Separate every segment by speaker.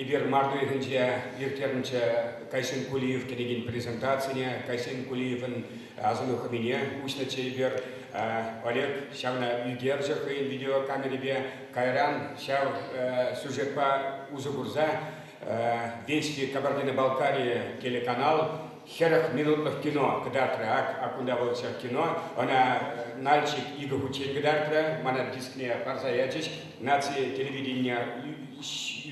Speaker 1: Эпир март уйӑхӗнче ирттернӗччӗ Кайсын Кулиев кӗнекен презентацине. Кайсын Кулиевӑн асӑну хӑмине уҫнӑччӗ эпир. Олег ҫавна ӳкерчӗ хӑйӗн видеокамерипе. Кайран ҫав сюжетпа усӑ курса Вести Кабардино-Балкария телеканал Хӗрӗх минутлӑх кино кӑтартрӗ. Ак, ак кунта вӑл ҫак кино. Ӑна Нальчик икӗ хутчен кӑтартрӗ. Мана дискне парса ячӗҫ. Наци телевиденине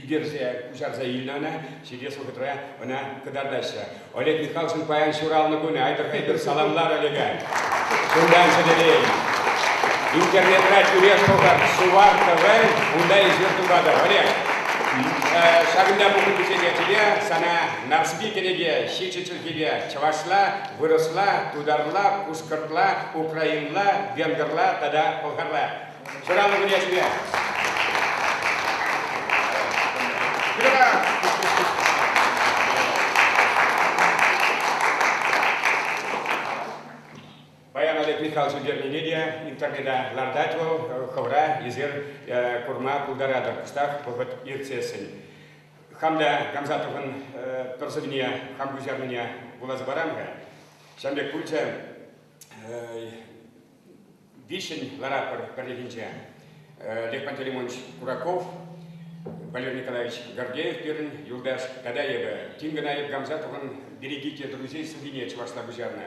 Speaker 1: ӳкерсе, куҫарса илнӗ ӑна. Ҫитес вӑхӑтра ӑна кӑтартаҫҫӗ. Олег Михалкин паян ҫуралнӑ кунӗ. Айтӑр-айтӑр саламлар, Олега! Чунтан сӗтӗрен. Интернетра тӳрех пӑхӑр Сувар ТВ, унта эсир туратӑр. Олег, ҫакӑнта пухӑннисене тӳре сана Нарспи кӗнеке ҫичӗ чӗлхипе, чӑвашла, вырӑсла, тутарла, пушкӑртла, украинла, венгрла тата пӑлхарла. Ҫуралнӑ кунешне! Паян Олег Михайлович ӳкернине те интернета лартать вӑл, хӑвра эсир курма пултаратӑр кӑштах вӑхӑт иртсессӗн. хамля Гамзатовӑн пӗр сӑввине хам куҫарнине вуласа парам-ха. Ҫавӑн пек пулчӗ виҫҫӗн ларапӑр пӗрлӗхӗнче. Лехман Телемонч Кураков, Валерий Николаевич Гордеев пирӗн юлташ тата эпӗ. Тин кӑна эп Гамзатовӑн «Берегите друзей» сӑввине чӑвашла куҫарнӑ.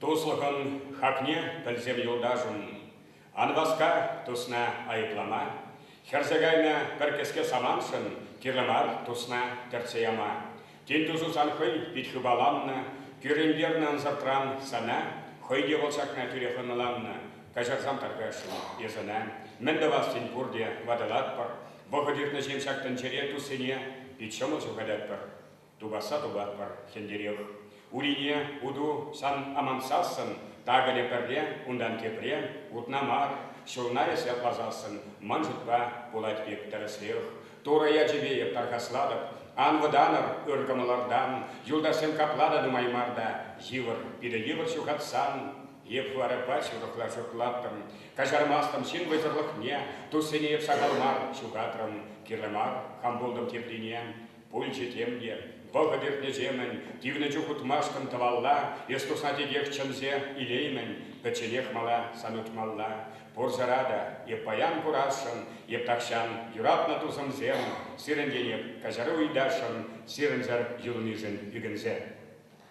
Speaker 1: Туслӑхӑн хакне пӗлсем юлташӑм ан васка, тусна айӑплама, хӗрсе кайнӑ пӗр кӗске самантшӑн кирлӗ мар тусна тӗртсе яма. Тин тусу сан хӑй пит хыпаланнӑ, кӳрентернӗ ӑнсӑртран сана хӑй те вӑл ҫакна тӳрех ӑнланнӑ. Каҫарсам таркашрӑм эсӗна. Мӗн тӑвассин пурте ватӑлатпӑр. Вӑхӑт иртнӗ ҫын ҫак тӗнчерен туссене пит ҫӑмӑл ҫухататпӑр. Тупасса тупатпӑр ҫӗнтерех. Урине уту сан амансассӑн, такӑнӗ пӗрре унтан тепре утна мар, ҫулна эс ятласассӑн, ман шутпа, пулать пек тӗрӗсрех. Турӑ ячӗпе эп тархаслатӑп, ан вӑтанӑр ыр кӑмӑлӑртан, юлташсем капла та нумай мар та йывӑр, питӗ йывӑр ҫухатсан. Эп варӑпа ҫурӑхла шутлаттӑм, каҫармастӑм ҫын вӑйсӑрлӑхне, туссене эп сахал мар ҫухатрӑм, кирлӗ мар хам пултӑм теприне. Пулчӗ тем те. Вӑхӑт иртнӗҫемӗн, тивнӗ чух утмашкӑн тӑвалла, эс тусна текех чӗнсе илеймӗн, пӗчченех мала сан утмалла. Пурсӑра та эп паян курасшӑн, эп тахҫан юратнӑ тусӑмсем, сирӗнтен эп каҫару ыйтасшӑн, сирӗнсӗр юлнишӗн ӳкӗнсе.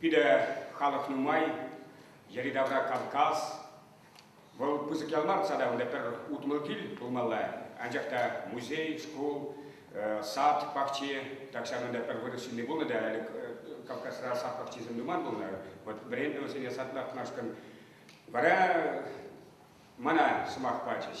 Speaker 1: Пире халӑх нумай, йӗри-тавра Кавказ. Вӑл пысӑк ял мар тата, унта пӗр утмӑл кил пулмалла. Анчах та музей, шкул, сад пахчи, так ҫавӑнта пӗр вырӑс ҫынни пулнӑ та, ӗлӗк Кавказра сад пахчисем нуман пулнӑ. Вот вӗреннӗ вӗсене сад лартмашкӑн. Вара мана сӑмах пачӗҫ.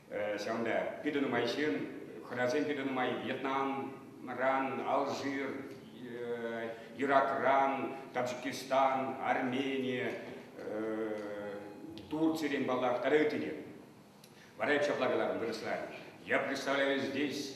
Speaker 1: Ҫавӑнпа питӗ нумай ҫын, хӑнасем питӗ нумай Вьетнамран, Алжир, Иракран, Таджикистан, Армени, Турцирен паллах, тата ытти те. Вара эп ҫапла каларӑм вырӑсла. Я представляю здесь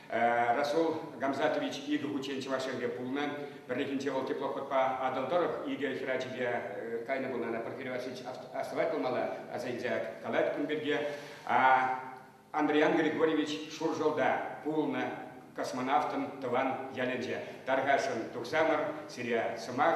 Speaker 1: Расул Гамзатович икӗ хутчен Чӑваш Енре пулнӑ. Пӗррехинче вӑл теплоходпа Атӑл тӑрӑх икӗ хӗр ачипе кайнӑ пулнӑ. Ана Порфирий Васильевич астӑвать пулмалла, аса илсе калать кун пирки. Андриан Григорьевич Шуршӑлта пулнӑ космонавтӑн тӑван ялӗнче. Тархасшӑн, тухсамӑр сире сӑмах.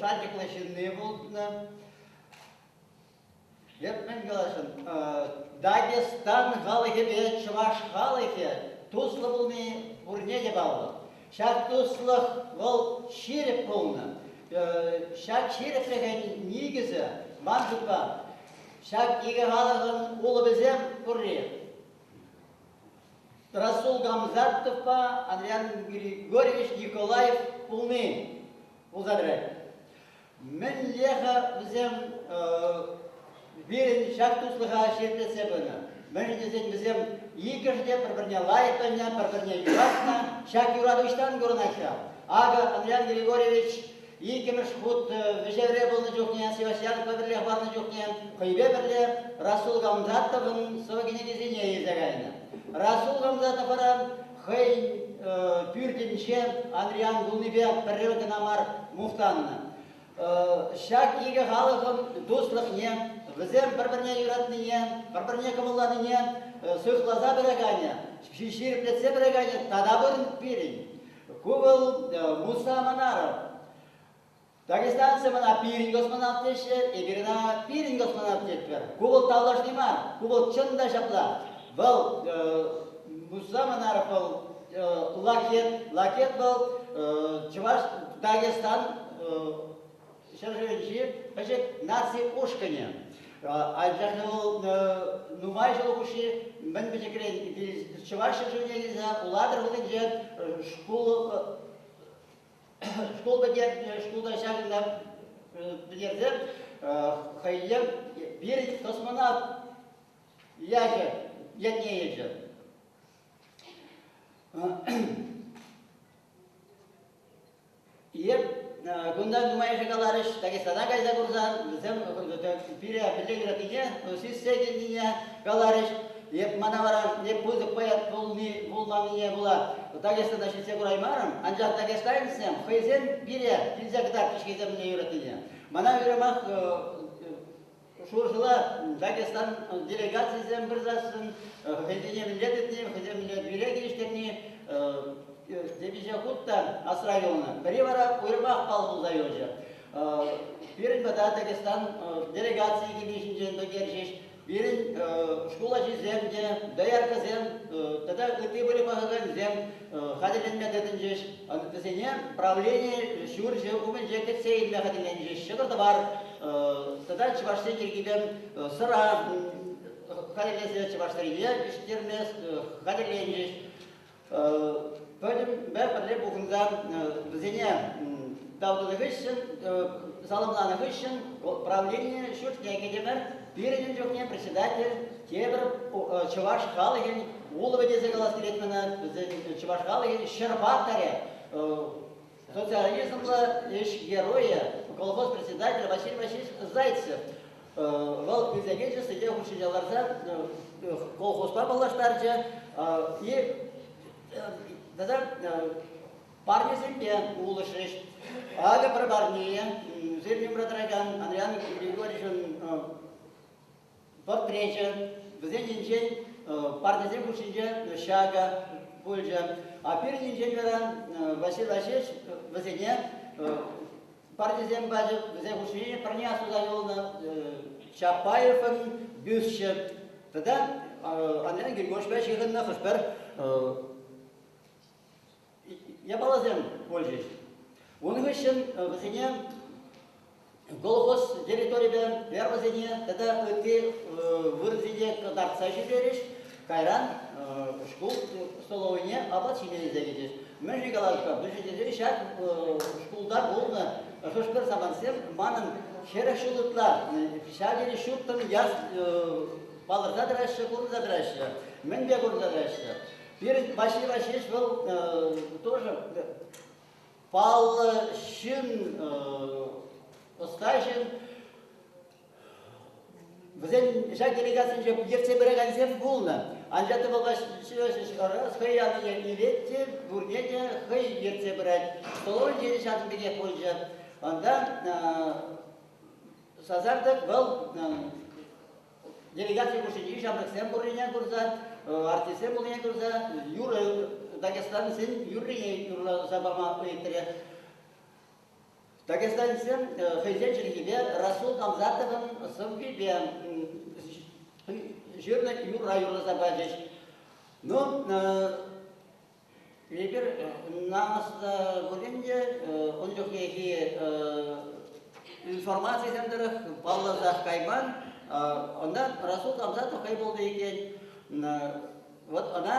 Speaker 2: шанчӑклӑ ҫынни пулнӑ. Эп мӗн калаҫӑн, Дагестан халӑхӗпе чӑваш халӑхӗ туслӑ пулни пурне те паллӑ. Ҫак туслӑх вӑл ҫирӗп пулнӑ. Ҫак ҫирӗплӗхӗн никӗсӗ, ман шутпа, ҫак икӗ халӑхӑн улӑпӗсем пурри. Расул Гамзатовпа Адриан Григорьевич Николаев пулни пулса тӑрать. Мӗнле-ха вӗсем пирӗн ҫак туслӑха ҫирӗплетсе пынӑ? Мӗншӗн тесен вӗсем иккӗшӗ те пӗр-пӗрне лайӑх пӗлнӗ, пӗр-пӗрне юратнӑ. Ҫак юрату ӑҫтан курӑнать-ха? Акӑ, Адриан Григорьевич Иккӗмӗш хут вӗҫевре пулнӑ чухне, Севастьянова пӗрлех барнӑ чухне хӑйпе пӗрле Расул Гамзатовӑн сӑвӑ кӗнекисене илсе кайнӑ. Расул Гамзатовӑра хӑйӗн пӳртӗнче Андриян пулнипе пӗрре кӑна мар мухтаннӑ. Ҫак икӗ халӑхӑн туслӑхне, вӗсем пӗр-пӗрне юратнине, пӗр-пӗрне кӑмӑлланине сыхласа пыраканӗ, ҫирӗплетсе пыраканӗ тата пурӑн пирӗн. Ку вӑл Мусна Манаров. Дагестанцы мана пирӗн космонавт теҫҫӗ, эпир ӑна пирӗн космонавт тетпӗр. Ку вӑл тавлашни мар, ку вӑл чӑн та ҫапла. Вӑл Мусна Манаров вӑл лакет, лакет вӑл чӑваш Дагестан ҫӗршывӗнчи пӗчӗк наци ушкӑнӗ. Анчах вӑл нумай ҫул хушши мӗн пӗчӗкрен чӑваш ҫӗршывне килсе Улатӑр хулинче шкул шкул пӗтерсе шкулта ҫакӑнта пӗтерсе хӑйне пир космонавт ячӗ ятне илчӗ. Эп кунта нумайӑшӗ каларӗҫ, Дагестана кайса курсан, вӗсем пире мӗнле юратнине, сӳссе килнине каларӗҫ. Эп мана вара не пысӑк поэт пулни, пулманнине пула Дагестана ҫитсе кураймарӑм, анчах дагестанецсем хӑйсем пире килсе кӑтартрӗҫ хӑйсем мӗнле юратнине. Мана уйрӑмах Шуршӑла Дагестан делегацийӗсем пырсассӑн хӑйсене мӗнле тытни, хӑйсем мӗнле тӳре килӗштерни темиҫе хут та асра юлнӑ. Пӗри вара уйрӑмах пал пулса юлчӗ. Пирӗн пата Дагестан делегацийӗ килни ҫинчен пӗлтерчӗҫ. Пирӗн шкул ачисем те, дояркӑсем тата ытти пӗлӳ пӑхакансем хатӗрленме тытӑнчӗҫ. Вӗсене правлени ҫурчӗ умӗнче кӗтсе илме хатӗрленчӗҫ. Ҫӑкӑр-тӑвар тата чӑвашсен чиркӗвӗн сӑра хатӗрлесе чӑваш тӗррине пиҫтерме хатӗрленчӗҫ. Пӗтӗмпе пӗрле пухӑнса вӗсене тав тунӑ хыҫҫӑн, саламланӑ хыҫҫӑн правлени ҫуртне кӗтӗмӗр. Пирӗн ун чухне председатель тепӗр чӑваш халӑхӗн улӑпӗ тесе калас килет мана. Вӗсен чӑваш халӑхӗн ҫӗр паттӑрӗ, социализмла ӗҫ геройӗ, колхоз председателӗ Василий Васильевич Зайцев. Вӑл килсе килчӗ сӗте хушшине ларса колхозпа паллаштарчӗ и тата парнесемпе пулӑшӗҫ. Акӑ пӗр парне ӳсернӗ тӑракан Андриян Григорьевичӑн портречӗ. Вӗсенчен парнесем хушшинче ҫакӑ пулчӗ. А пирӗнинчен вара Василий Васильевич вӗсене парнесем пачӗ. Вӗсен хушшине пӗрне asuса юлнӑ Чапаевӑн бюсчӗ тата Андриян Григорьевичпа ҫыхӑннӑ хӑш-пӗр япаласем пулчӗҫ. Ун хыҫҫӑн вӗсене колхоз территорипе фермӑсене тата ытти вырӑнсене кӑтартса ҫитерӗҫ. Кайран шкул столовӑйне апат ҫине илсе кӗчӗҫ. Мӗн-ши калас-ха, мӗншӗн тесен ҫак шкулта пулнӑ хӑш-пӗр самантсем манӑн хӗрӗх ҫул ытла ҫав тери ҫуттӑн яс палӑрса тӑраҫҫӗ, курӑнса тӑраҫҫӗ. Мӗнпе курӑнса тӑраҫҫӗ? Перед Пасиба ҫеҫ вӑл тоже паллӑ ҫын, ӑстаҫӑн. Вӗсен ҫак делегацинче ертсе пыракансем пулнӑ. Анчах та вӑл хӑй аллине илет те, пурне те хӑй ертсе пырать. Тололь тесе ҫакӑн пекех пулчӗ. Ӑнта сасартӑк вӑл делегаци хушшинчи ҫамрӑксем пуррине курса, артистсем пуррине курса юрӑ дагестанцин юррине юрласа пама ыйтрӗ. Дагестанцсем хӑйсен чӗлхипе Расул Намзатовӑн сӑввипе ҫырнӑ юрра юрласа пачӗҫ. Ну, Эпир намӑс пулин те ун чухнехи информацисем тӑрӑх палласах кайман. Ӑна Расул Гамзатов хӑй пулнӑ иккен. Вот ӑна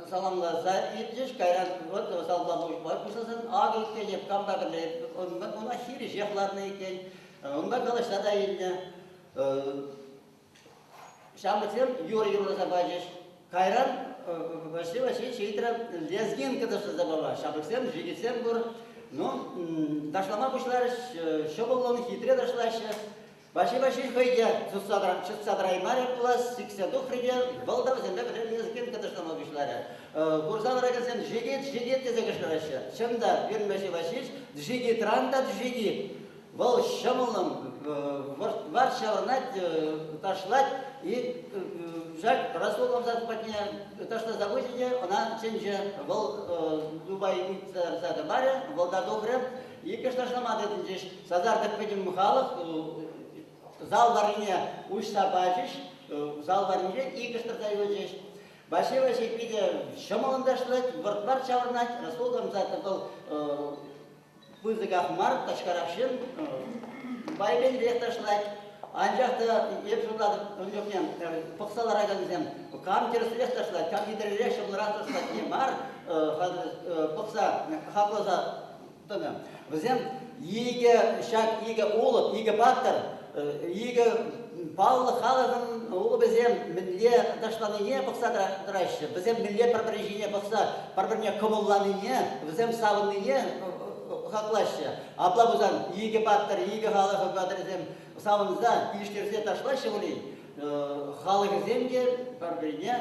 Speaker 2: саламласа иртӗҫ, кайран вот залпа пуҫпа пуҫласан акӑ иккен эп камта кӗрле унпа хирӗҫех ларнӑ иккен. Унпа калаҫса та илнӗ. Ҫамрӑксем юрӑ юрласа пачӗҫ. Кайран Василий Васильевич ыйтрӗ, лезгин кӑтӑртаса пама. Ҫамрӑксем, жидецсем пур. Ну, ташлама пуҫларӗҫ, ҫӑмӑллӑн, хитре ташлаҫҫӗ. Василий Васильевич хӑй те чӑтса тӑраймарӗ пулас, сиксе тухрӗ те вӑл та вӗсемпе пӗрле лезгин кӑтӑртама пуҫларӗ. Курса тӑракансем жидет, жидет тесе кӑшкӑраҫҫӗ. Чӑн та, пирӗн Василий Васильевич жидитран та жидит. Вӑл ҫӑмӑллӑн варҫаланать, ташлать, и ҫак Расул абзац патне ташласа хучӗ те ӑна чӗнчӗ. Вӑл Дубай утса тӑмарӗ, вӑл та добрӗ. Иккӗш ташлама тытӑнчӗҫ. Сасартӑк пӗтӗм халӑх зал варрине уҫса пачӗҫ. Зал варринче иккӗш тӑрса юлчӗҫ. Ваҫи Ваҫи питӗ ҫӑмӑллӑн ташлать, вӑрт-варт ҫаврӑнать. Расул абзац вӑл пысӑках мар тачкарах ҫын байкенсерех ташлать. Анчах та эп шутлатӑп, ун чухне пӑхса ларакансем кам тӗрӗсрех ташлать, кам хитререх ҫӑмӑлрах ташлать не мар, пӑхса, хакласа тӑнӑ. Вӗсем икӗ ҫак икӗ улӑп, икӗ паттӑр икӗ паллӑ халӑхӑн улӑпӗсем мӗнле ташланине пӑхса тӑраҫҫӗ, вӗсем мӗнле пӗр-пӗрин ҫине пӑхса пӗр-пӗрне кӑмӑлланине, вӗсем савӑннине хаклаҫҫӗ. Апла пулсан икӗ паттӑр, икӗ халӑх хӑватрӗсем савӑнса, килӗштерсе ташлаҫҫӗ пулин, халӑхӗсем те пӗр-пӗрине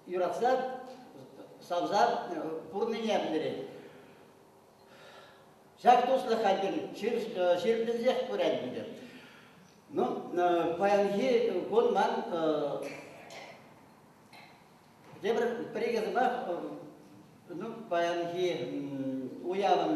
Speaker 2: юратса, савса пурнине пӗлтерет. Ҫак туслӑх хальтен чирлӗнсех пырать ӗнтӗ. Ну, паянхи кун ман тепӗр пӗр икӗ сӑмах ну, паянхи уявӑн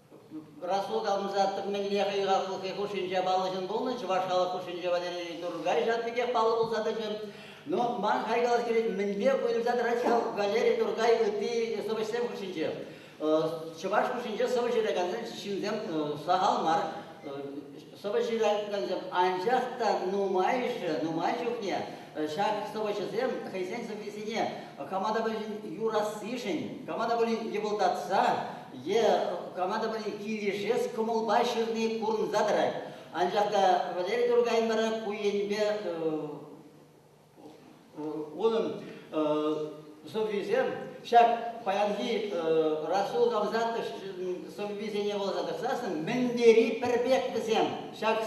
Speaker 2: Расулкамса мӗнле хӑйхаллӑхе хушшинче паллӑҫӑн пулнӑ, чӑваш халӑх хушшинче Валерий Тургай ҫав пекех паллӑ пулса тӑчӗ. Ну, ман хайлавӑш килет, мӗнпе уйрӑлса тӑрать ҫав Валерий Тургай ытти сӑвӑҫсем хушшинче. Чӑваш хушшинче сӑвӑ ҫыракансен ҫынсем сахал мар. Сӑвӑ ҫыраткансем анчах та нумайӑшӗ, нумай чухне ҫак сӑвӑҫӑсем хӑйсен сӑввисене кама та пулин юрассишӗн, кама та пулин йӑпӑлтатса е кама та пулин килӗшес кӑмӑлпа ҫырни курӑнса тӑрать. Анчах та Валерий Тургай вара ку енӗпе Унӑн сӑввисем ҫак паянхи Расул Гавзатов сӑввисене вуласа тӑрсассӑн мӗн тери пӗр пек вӗсем. Ҫак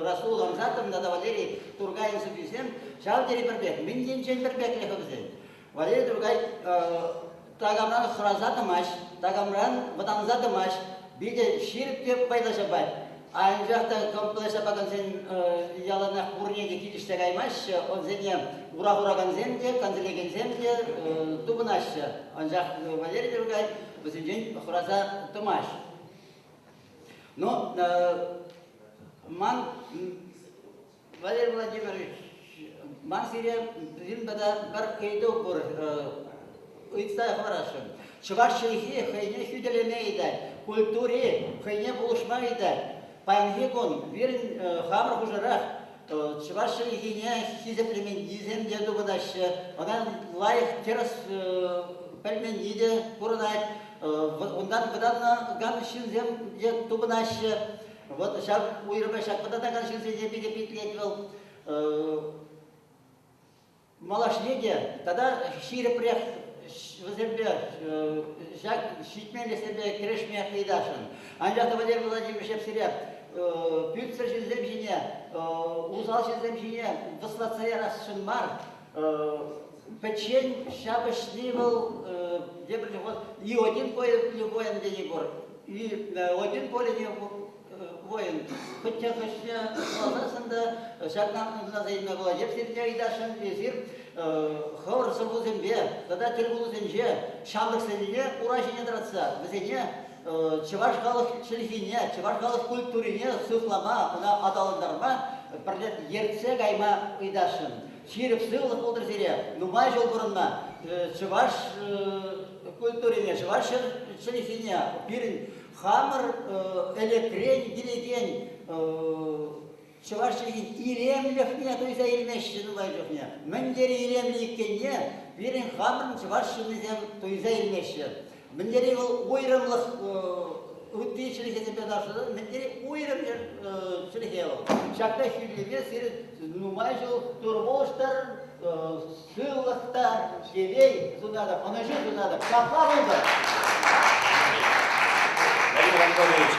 Speaker 2: Расул Гамзатовӑн тата Валерий Тургайӑн сӑввисем ҫав тери пӗр пек, мӗн енчен пӗр пеклӗх вӗсен. Валерий Туркай такамран хӑраса тӑмасть, такамран вӑтанса тӑмасть, питӗ ҫирӗп те пайлӑ ҫапать. Анчах та комплекс ҫапакансен яланах пурне те килӗшсе каймаҫҫӗ, онсене ура хуракансем те, канселекенсем те тупӑнаҫҫӗ. Анчах Валерий Туркай вӗсенчен хӑраса тӑмасть. Но ман Валерий Владимирович, ман сире пӗтӗм тата пӗр ыйту пур ыйтса хӑварасшӑн. Чӑваш чӗлхи хӑйне хӳтӗлеме ыйтать, культури хӑйне пулӑшма ыйтать. Паянхи кун пирӗн хамӑр хушӑрах чӑваш чӗлхине хисеплеменнисем те тупӑнаҫҫӗ, ӑна лайӑх тӗрӗс пӗлменни те курӑнать. Унтан вӑтанакан ҫынсем те тупӑнаҫҫӗ. Вот ҫак уйрӑма ҫак пӑтатакан ҫынсене питӗ питлет вӑл. Малашне те тата ҫирӗпрех вӗсемпе ҫак ҫитменлӗхсемпе кӗрешме ыйтасшӑн. Анчах та Валерий Владимировичев сире пӳлтсӗр ҫынсем ҫине, усал ҫынсем ҫине вӑслатса ярасшӑн мар. Пӗччен ҫапӑҫни вӑл тепӗр чух вот ни один любой ӗнтӗ не пор. Владимир Коллеев воин пӗччен хыҫне ӑсланасшӑн та ҫакна ӑнсӑласа илме пулать. Сергей Айдашӑн эсир хӑвӑр сӑввусемпе тата тӗлпулусенче ҫамрӑксене ура ҫине тӑратса вӗсене чӑваш халӑх чӗлхине, чӑваш халӑх культурине сыхлама, ӑна аталантарма пӗрле ертсе кайма ыйтасшӑн. Ҫирӗп сывлӑх пултӑр сире, нумай ҫул пурӑнма чӑваш культурине, чӑваш чӗлхине пирӗн хамӑр ӗлӗкрен килекен чӑваш чӗлхин илемлӗхне туйса илмеҫҫӗ нумай чухне. Мӗн тери илемлӗ иккенне пирӗн хамӑрӑн чӑваш ҫыннисем туйса илмеҫҫӗ. Мӗн тери вӑл уйрӑмлӑх ытти чӗлхесемпе таврашса мӗн тери уйрӑм чӗлхе вӑл. Ҫакна хӳтӗлеме сирӗн нумай ҫул тыр-пулӑштӑр, Сывлӑхтан
Speaker 1: телей сунатӑп, ӑнӑҫу сунатӑп. Ҫапла пултӑр. Владимир Анатольевич,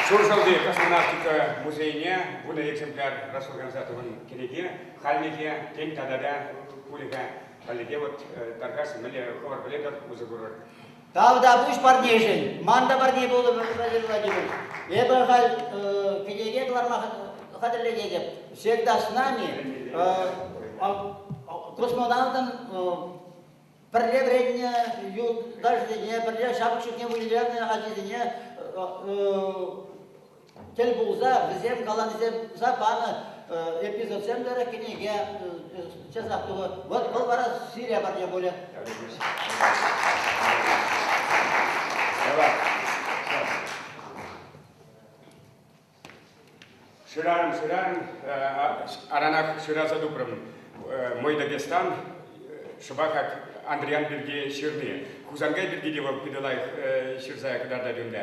Speaker 1: Шуршалти космонавтика музейне вунӑ экземпляр раsorганиза тухӑн кӗнеке хальлӗхе, тен, тата та пулӗ-ха. Хальлӗхе вот тархас мӗнле хӑвӑр пӗлетӗр, усӑ курӑр. Тавтапуҫ
Speaker 2: парнешӗн. Ман та парне пулӑп хатӗрлетӗпӗр. Эпӗ халь э, кӗнеке кӑларма хатӗрленетӗп. Всегда с нами. Космонавтӑн пӗрле вӗреннӗ юлташӗсене, пӗрле ҫапӑҫусене вылянӑ ачисене тӗл пулса вӗсем калаҫса панӑ эпизодсемлӗ кӗнеке часах тухӑ. Вӑл вара сире парне пулӗ.
Speaker 1: Шыран, шыран, аранах шыраса тупрӑм. Мойда Бестан шӑпахат Андриян пирки ҫырни. Хусанкай пирки те вӑл питӗ лайӑх ҫырса кӑтартать унта.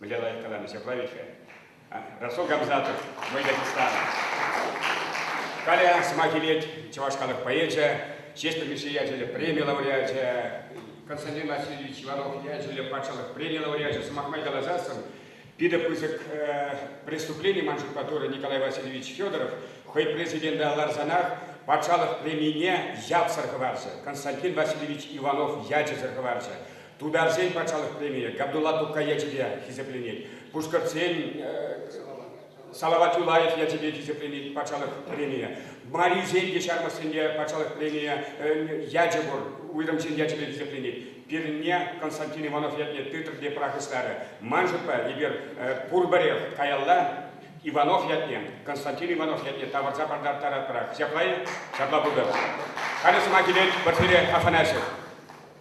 Speaker 1: Валерий Николаевич Аблавиче, Расул Гамзатов, Мой Дагестан. Каля сӑмах илет чӑваш халӑх поэчӗ, Ҫеҫпӗл Мишши ячӗллӗ преми лауреачӗ, Константин Васильевич Иванов ячӗллӗ патшалӑх преми лауреачӗ, сӑмах май каласассӑн, питӗ пысӑк преступлени ман шутпа турӗ Николай Васильевич Федоров хӑй президента ларсанах патшалӑх премине ятсӑр хӑварчӗ, Константин Васильевич Иванов ячӗсӗр хӑварчӗ. Тутарсен патшалӑх премийӗ Габдулла Тукай ячӗпе хисепленет, пушкӑртсен Салават Юлаев ячӗпе хисепленет патшалӑх премийӗ. Марисен те ҫармӑссемпе патшалӑх премийӗ ячӗ пур, уйрӑмсен ячӗпе хисепленет. Пирӗнне Константин Иванов ятне тытӑр те пӑрахӑҫларӗ. Ман шутпа, эпир пурпӗрех каялла Иванов ятне, Константин Иванов ятне тавӑрса пӑртаттаратпӑрах. Ҫапла-и? Ҫапла пултӑр. Халӗ сӑмах илет Порфирий Афанасьев.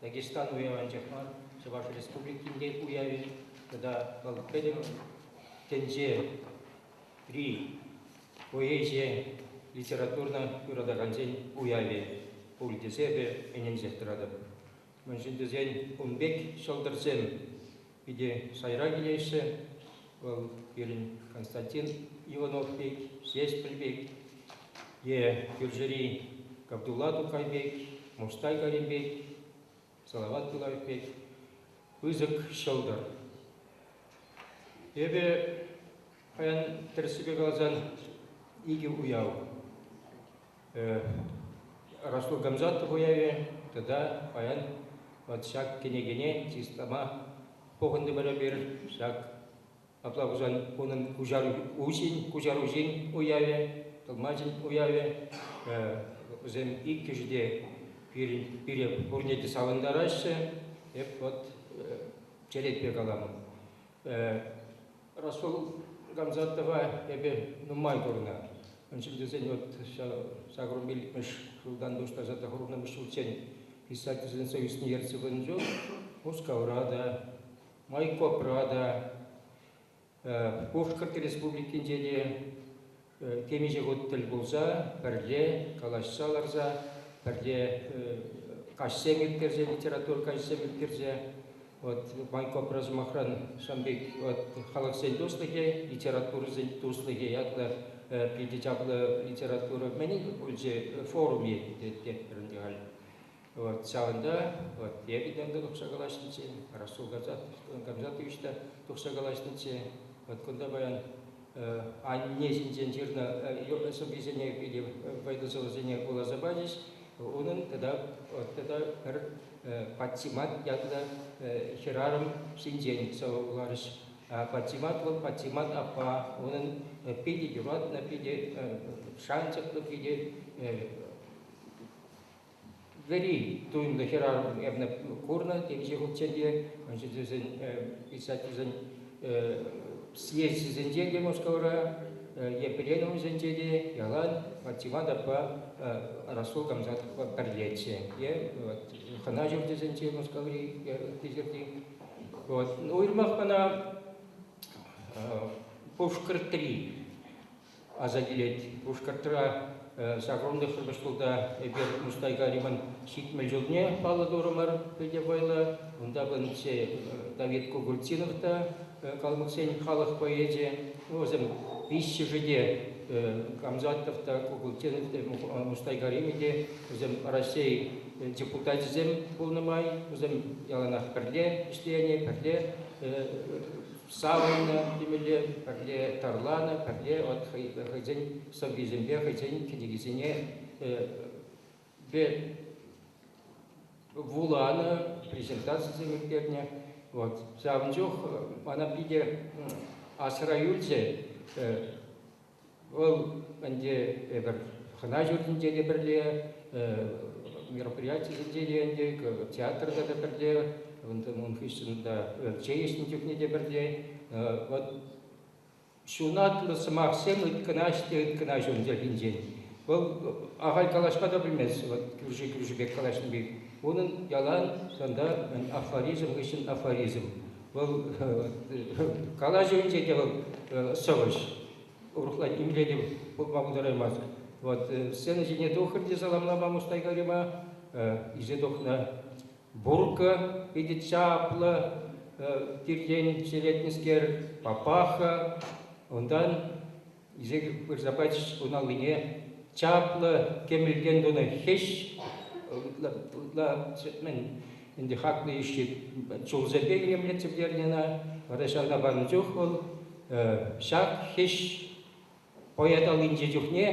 Speaker 3: Дагестан уявӗнчех мар, Чӑваш Республикинче уявӗ тата вӑл пӗтӗм тӗнчери поэзи, литература юратакансен уявӗ пуль тесе эпӗ ӗненсех тӑратӑп. Мӗншӗн тесен ун пек ҫӑлтӑрсем Питӗ шайра килеҫҫӗ. Вӑл пирӗн Константин Иванов пек, Ҫеҫпӗл пек, е кӳршӗри Габдулла Тукай пек, Муштай Карим пек, Салават Тулаев пек пысӑк ҫӑлтӑр. Эпӗ паян тӗрӗссипе каласан икӗ уяв. Ростов Гамзатов уявӗ тата паян вот ҫак кӗнекене чыслама пухӑнтӑмӑр эпир. Ҫак апла пулсан унӑн куҫару, уҫин, куҫаруҫин уявӗ, тӑлмачӗн уявӗ. Вӗсем иккӗшӗ те пирӗн, пире пурне те савӑнтараҫҫӗ. Эп вот черетпе калам. Расул Гамзатова эпӗ нумай курнӑ. Мӗн чуль тесен вот ҫак румбиль икмӗш ҫултан пуҫласа тӑхӑрмӗш ҫулччен писательсенсен ӳсни ертсе чул Мускавра та, Майкопра та, Пушкӑрт Республикинче те темиҫе хут тӗл пулса пӗрле калаҫса ларса пӗрле каҫсем ирттерсе литература каҫсем ирттерсе вот Банкопра сӑмахран сан пек вот халӑхсен туслӑхӗ, литературӑсен туслӑхӗ ятлӑ питӗ чаплӑ литература мӗн пулчӗ форуми тетте халь. Вот ҫавӑнта вот я виданта тухса калаҫнӑччӗ, Расул Гамзатович та тухса калаҫнӑччӗ. Вот кунта паян анне ҫинчен ҫырнӑ сӑввисене питӗ вӑйлӑсӑлӑсене вуласа пачӗҫ. Унӑн тата вот тата пӗр Патсимат ятлӑ хӗрарӑм ҫинчен сӑвӑ вуларӗҫ. Патсимат вӑл Патсимат аппа, унӑн питӗ юратнӑ, питӗ шанчӑклӑ, питӗ вӗри туйӑмлӑ хӗрарӑм эпне курнӑ темиҫе хутчен те ӑнҫыртусен писательсен съезчӗсенче те Мускавра е пленумсенче те ялан Тиван ятпа Расул Камзатовпа пӗрлеччӗ е хӑна ҫурчӗсенче Мускаври ытти Вот. Ну, уйрӑмах мана Пушкӑртри аса килет. Пушкӑртра ҫак рунлӑхсӑр шкулта эпир Мустайга Риман ҫитмӗл ҫулне паллӑ турӑмӑр. Питӗ вӑйлӑ. Унта пынӑччӗ Давид Кугульцинов та калмӑксен халӑх поэчӗ. Вӗсем виҫҫӗшӗ те Камзатов та, Кугульцинов те, Мустайга Римӗ те, вӗсем Раҫҫей депутачӗсем пулнӑ май, вӗсем яланах пӗрле ӗҫленӗ, пӗрле Савӑннӑ темелле, пӗрле тарланӑ, пӗрле вот хӑйсен сӑввисемпе хӑйсен кӗнекисене вуланӑ, презентацисем ирттернӗ. Вот. Ҫавӑн чух мана питӗ асра юлчӗ Вӑл ӗнтӗ эпир хӑна ҫуртӗнче те пӗрле, мероприятисенче те ӗнтӗ, театрта та пӗрле, ун хыҫҫӑн та чей ӗҫнӗ чухне те пӗрле. Вӑт ҫунатлӑ сӑмахсем ыйткӑнаҫ те ыйткӑнаҫ ун чӗлхинчен. Вӑл ахаль калаҫма та пӗлмест, вот кӳрши-кӳрши пек калаҫнӑ пек. Унӑн ялан тата афоризм хыҫҫӑн афоризм. Вӑл калаҫӑвӗнче те вӑл сӑвӑҫ, урӑхла нимле те пулма пултараймасть. Вот сцена ҫине тухрӗ те саламлама Мустайгарима, исе тухнӑ. Бурка питӗ чаплӑ тиртен черетнӗскер, папаха. Унтан Исек пырса пачӗҫ ун аллине. Чаплӑ кӗмӗлтен тунӑ хӗҫ. Ытла, ытла мӗн, ӗнтӗ хаклӑ йӳҫҫи чулсемпе илемлетсе пӗтернӗ ӑна. Вара ҫавна панӑ чух вӑл ҫак хӗҫ поэт аллинчи чухне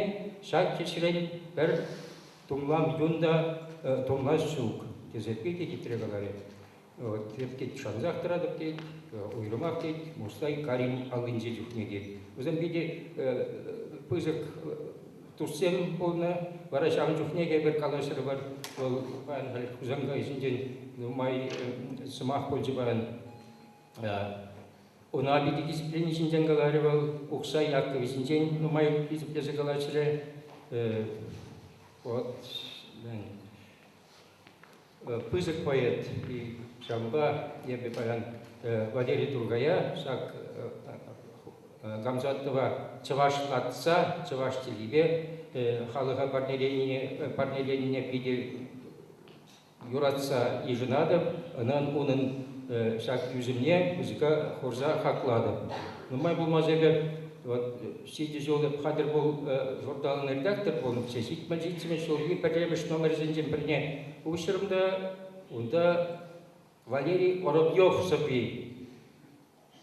Speaker 3: ҫак хӗҫрен пӗр тумлам юн та тумлас ҫук, тесе питӗ хитре каларӗ. Вӑт тет, шансах тӑратӑп тет, уйрӑмах тет Мустай Карим аллинче чухне тет. Вӗсем питӗ пысӑк туссем пулнӑ. Вара ҫавӑн чухнехи пӗр калаҫрӑмӑр. Вӑл паян халь Хусанкай ӗҫӗнчен нумай сӑмах пулчӗ паян. Ӑна питӗ дисциплини ҫинчен каларӗ вӑл. Ухсай Яккӑвӗсенчен нумай хисеплесе калаҫрӗ. Вӑт, мӗн пысӑк поэт. Ҫавӑнпа эпӗ паян Валерий Тургая ҫак Гамзатова чӑваш атса, чӑваш чӗлхипе халӑха парнеленине питӗ юратса йышӑнатӑп, унӑн ҫак ӳсӗмне пысӑка хурса хаклатӑп. Нумай пулмасть эпӗ вот Ҫитӗ ҫул эп хатӗр пул журналӑн редактор пулнӑччӗ. Ҫитмӗл ҫитсен ҫулхи пӗрремӗш номерсенчен пӗрне уҫрӑм та унта Валерий Воробьев сӑвви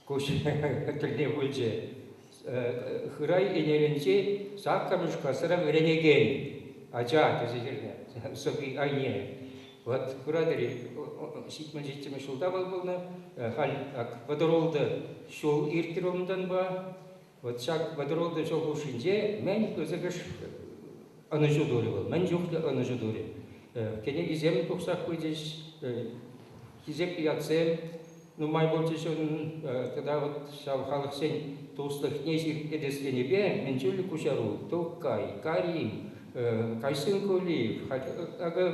Speaker 3: куҫ тӗлне пулчӗ. Хырай Ӗнелӗнчи саккӑрмӗш класра вӗренекен ача тесе ҫырнӑ сӑвви айне. Вот куратӑр-и, ҫитмӗл ҫитсемӗш ҫулта вӑл пулнӑ. Халь ак вӑтӑрултӑ ҫул иртрӗ унтанпа. Вот ҫак вӑтӑролтӑ ҫул хушшинче мӗн пысӑкӑш ӑнӑҫу турӗ вӑл, мӗн чухлӗ ӑнӑҫу турӗ. Кӗнекисем тухсах пычӗҫ, хисеплӗ ятсем нумай пулчӗҫ унӑн. Тата вот ҫав халӑхсен туслӑхне сирпӗтес енӗпе Мӗнчуллӗ куҫару, Тукай, Карим, Кайсын Кулиев, акӑ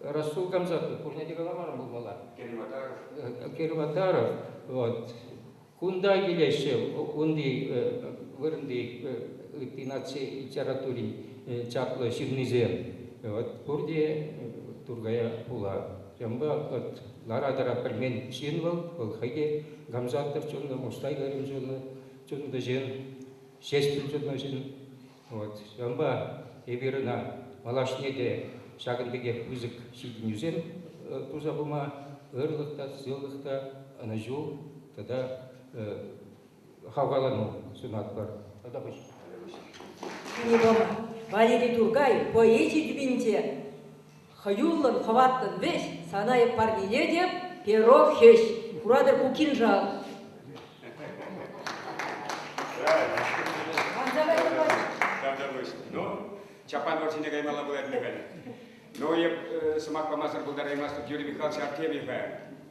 Speaker 3: Расул Гамзатов, пурне те каламарӑм пулмалла. Керим Атаров. Керим Атаров, вот Кунта килеҫҫӗ унти вырӑнти ытти наци литератури чаплӑ ҫыннисем. От пурте Тургая пула. Ҫавӑнпа вот лара-тӑра пӗлмен ҫын вӑл, вӑл хӑй те Гамзатов чунлӑ, Мустай Карим чунлӑ, чунлӑ ҫын, Ҫеҫпӗл чунлӑ ҫын. Вот ҫавӑнпа эпир ӑна малашне те ҫакӑн пекех пысӑк ҫитӗнӳсем туса пыма ырлӑх та, сывлӑх та, ӑнӑҫу тата хавхалану сунатпӑр. Тата пуҫ.
Speaker 4: Книга Валери Туркай поэзи тӳпинче Хӑюллӑн хӑваттӑн вӗҫ, сана эп парнелетӗп, перо хӗҫ. Куратӑр ку кинжал.
Speaker 1: Ну, Чапай вӑрҫине каймалла пулать ӗнтӗ халь. Ну, эп сӑмах памасӑр пултараймастӑп, Юрий Михайлович Артемьева.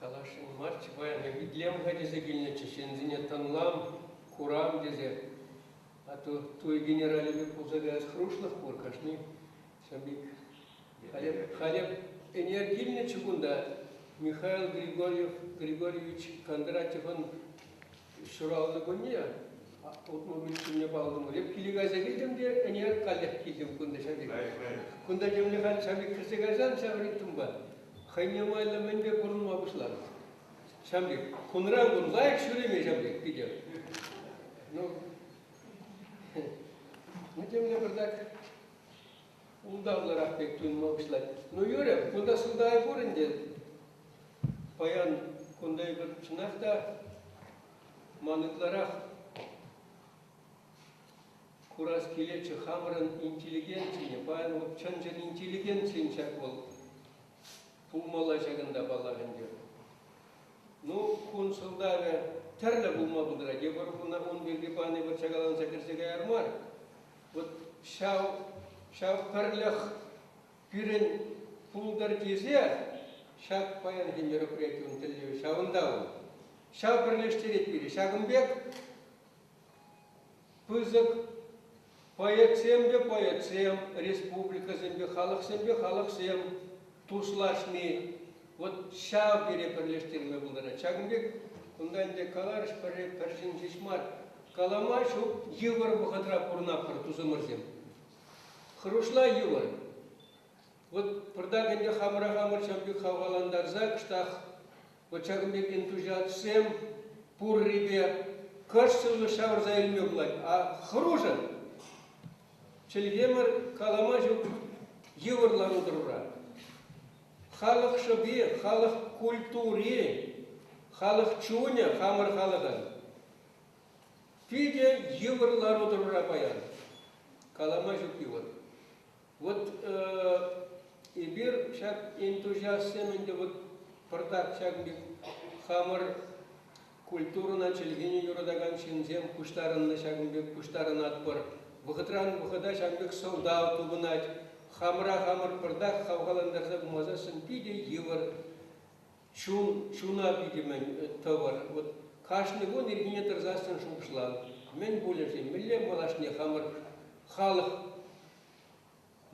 Speaker 5: Каласшӑн марччӗ паян, итлем ха тесе килнӗччӗ ҫынсене тӑнлам, курам тесе. А то туй генералӗ пек пулса каяс хӑрушлӑх пур кашни. Сӑмбик. Халӗ, халӗ ӗнер килнӗччӗ кунта. Михаил Григорьев, Григорьевич Кондратьевӑн Ҫуралнӑ кунне утмӑл миксерне паллӑмӑр. киле кайса килтӗм те ӗне каллех килтӗм кунта ҫав Кунта темле халь ҫав кӗрсе кайсан ҫав ритмпа хӑйне майлӑ мӗнпе пурӑнма пуҫланӑ. Ҫав пек кунран кун лайӑх ҫӳреме ҫав пек питӗ. Ну, ну темле пӗр так ултавлӑрах пек туйӑнма пуҫлать. Ну юрӗ, кунта сӑлтавӗ пур ӗнтӗ. Паян кунта эпир чӑнах та ман ытларах курас килетчӗ хамӑрӑн интеллигенцине. Паян вӑл чӑн-чӑн интеллигенцин ҫак вӑл пулмалла ҫакӑнта паллах ӗнтӗ. Ну, кун сӑлтавӗ тӗрлӗ пулма пултарать. Эпир ун пирки пани вӑт чакаланса кӗрсе каяр мар. Вот ҫав, ҫав пӗрлӗх пирӗн пултӑр тесе ҫак паянхи мероприятин тӗллевӗ ҫавӑнта вӑл. Ҫав пӗрлештерет пире. Ҫакӑн пек пысӑк поэтсемпе поэтсем, республикӑсемпе халӑхсемпе халӑхсем туслашни, Вот ҫав тери пӗрлештерме пултарать. Ҫакӑн пек кунта ӗнтӗ каларӑш пӗрре пӗршӗн ҫеҫ мар, калама ҫук йывӑр вӑхӑтра пурӑнатпӑр тусӑмӑрсем. Хӑрушла йывӑр. Вот пӑртак ӗнтӗ хамӑра хамӑр ҫав пек хавхалантарса кӑштах вот ҫакӑн пек энтузиастсем пуррипе кӑшсӑллӑ ҫавӑрса илме пулать. А хӑрушӑ чӗлхемӗр калама ҫук йывӑр лару-тӑрура. Халӑх шӑпи, халӑх культури, халӑх чунӗ хамӑр халӑхӑн. Питӗ йывӑр лару-тӑрура паян. Калама ҫук йывӑр. Вот эпир ҫак энтузиастсем ӗнтӗ вот пӑртак ҫакӑн пек хамӑр Культурӑна чӗлхене юратакан ҫынсем пуҫтарӑннӑ ҫакӑн пек пуҫтарӑнатпӑр. Вӑхӑтран вӑхӑта ҫавӑн пек сӑлтав тупӑнать. Хамӑра хамӑр пӗртак хавхалантарса пымасассӑн питӗ йывӑр. Чун, чуна питӗ мӗн тӑвӑр. Вот кашни кун ирхине тӑрсассӑн шухӑшлан, мӗн пулӗ-ши, мӗнле малашне хамӑр халӑх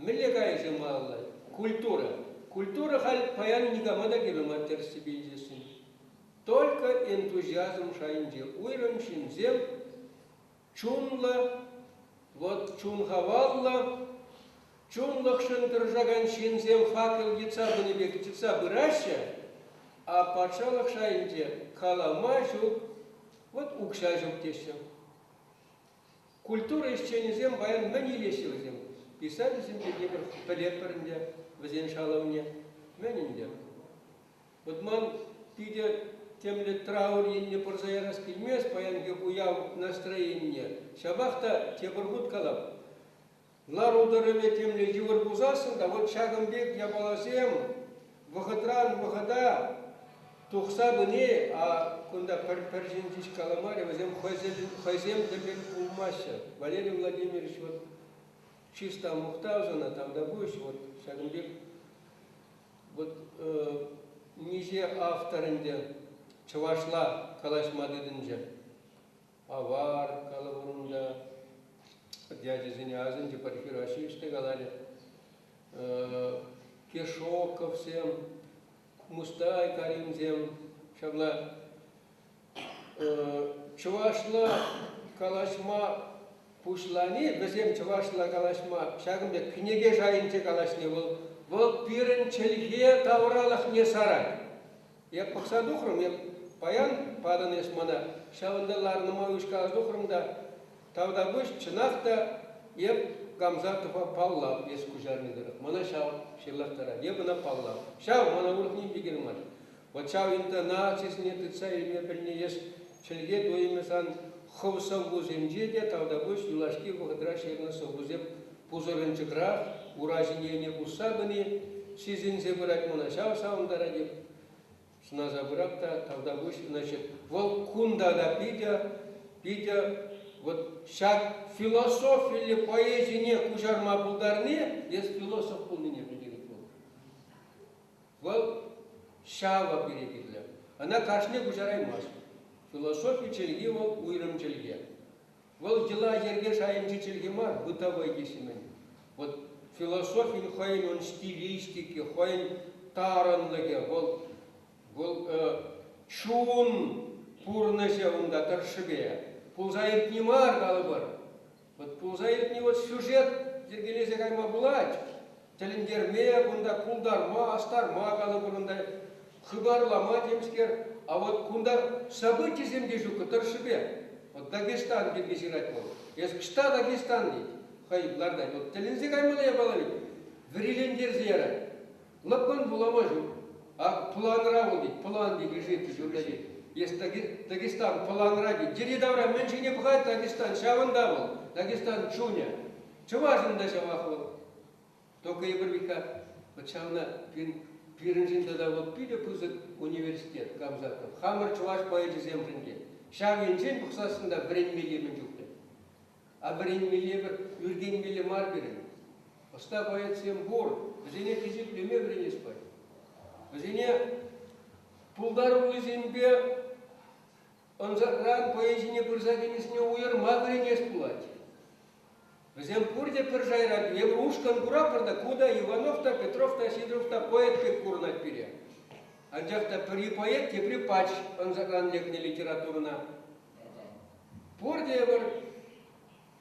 Speaker 5: Мӗнле кайӑк-ҫӑма алла? Культура. Культура халь паян никама та кирлӗ мар тӗрӗссипе илтесшӗн. Только энтузиазм шайӗнче уйрӑм ҫынсем чунлӑ, вот чун хаваллӑ, чунлӑхшӑн тӑрӑшакан ҫынсем факел йӑтса пынӑ пек йӑтса пыраҫҫӗ, а патшалӑх шайӗнче калама ҫук, вот укҫа ҫук теҫҫӗ. Культура ӗҫченӗсем паян мӗн илеҫҫӗ вӗсем? Писательсемпе тепӗр пӗлетпӗр ӗнтӗ вӗсен шалӑвне. Мӗн ӗнтӗ? Вот ман питӗ темле траур енне пырса ярас килмест паянхи уяв настроенине. Ҫапах та тепӗр хут калап. Лару-тӑрӑвӗ темле йывӑр пулсассӑн та вот ҫакӑн пек япаласем вӑхӑтран-вӑхӑта тухса пыни, а кунта пӗр ҫын ҫеҫ каламарӗ, вӗсем хӑйсем те пек пулмаҫҫӗ. Валерий Владимирович вот чисто мухтав сана, там допустим, вот ҫакӑн пек вот миҫе автор ӗнтӗ чӑвашла калаҫма тытӑнчӗ. Авар, калӑп унӑн ячӗсене асӑнчӗ, пӗрхи Раҫҫей ӗҫте каларӗ. Кешоковсем, Мустай Каримсем, ҫапла чӑвашла калаҫма пуҫлани, вӗсем чӑвашла калаҫма ҫакӑн пек кӗнеке шайӗнче калаҫни вӑл, вӑл пирӗн чӗлхе тавралӑхне сарать. Эп пӑхса тухрӑм, эп паян патӑн эс мана. Ҫавӑнта ларӑнӑма уҫкаласа тухрӑм та, тавтапуҫ, чӑнах та, эп Гамзатова паллав эс куҫарни тӑрӑх мана ҫав ҫырлахтарать. Эп ӑна паллав. Ҫав мана урӑх ним те кирлӗ мар. Вӑт ҫав интонацисене тытса илме пӗлни эс чӗлхе туйӑмӗ сан хӑв сӑввусенче те тавтапуҫ юлашки вӑхӑтра ҫырнӑ сӑввусем пусӑрӑнчӑкрах ура ҫине ӗне пусса пыни сисӗнсе пырать мана, ҫав савӑнтарать-и? Сӑнаса пырап та тавтапуҫ, значит, вӑл кунта та питӗ, питӗ вот ҫак философиллӗ поэзине куҫарма пултарни, если философ пулнине пӗлтерет вӑл. Вӑл ҫава пире кирлӗ. Ӑна кашни куҫараймасть. Философи чӗлхи вӑл уйрӑм чӗлхе. Вӑл йӑла-йӗрке шайӗнчи чӗлхе мар, бытовой теҫҫӗ-мӗн. Вот философин хӑйӗн ун стилистики, хӑйӗн тарӑнлӑхӗ, вӑл, вӑл э, чун пурнӑҫӗ унта тӑршшӗпе. Пулса иртни мар, калӑпӑр. Вот пулса иртни вот сюжет йӗркелесе кайма пулать. Тӗлӗнтерме, кунта култарма, астарма калӑпӑр унта, хыпарлама темскер. А вот кунта событисем те ҫук тӑршшӗпе. Вот Дагестан пирки ҫырать вӑл. Эс ӑҫта Дагестан тет, хӑй лартать. Вот тӗлӗнсе каймалла япала ведь. Вӗрилентерсе ярать. Лӑпкӑн вулама ҫук. А планра вӑл тет, план тет Решетка ҫурта тет. Эс Дагестан планра тет. Йӗри-тавра мӗн шикне пӑхать Дагестан, ҫавӑнта вӑл, Дагестан чунӗ. Чӑвашӑн та ҫавах вӑл. Только Егор Михайлович, вот ҫавна пирӗншӗн тата вот питӗ пысӑк университет Камзатов. Хамӑр чӑваш поэчӗсемшӗн те ҫав енчен пӑхсассӑн та вӗренмелле мӗн чухлӗ. А вӗренмелле пӗр, ӳркенмелле мар пирӗн. Ӑста поэтсем пур, вӗсене хисеплеме вӗренес патне. Вӗсене пултаруллисемпе ӑнсӑртран хӑйӗн ҫине пырса тинӗсне уйӑрма вӗренес пулать. Вӗсем пурте пӗр шайра, эпир ушкӑн куратпӑр та, ку та, Иванов та, Петров та, Сидоров та поэт пек курӑнать пире. Анчах та пӗри поэт, тепри пач ӑнсӑртран лекнӗ литературӑна. Пурте эпир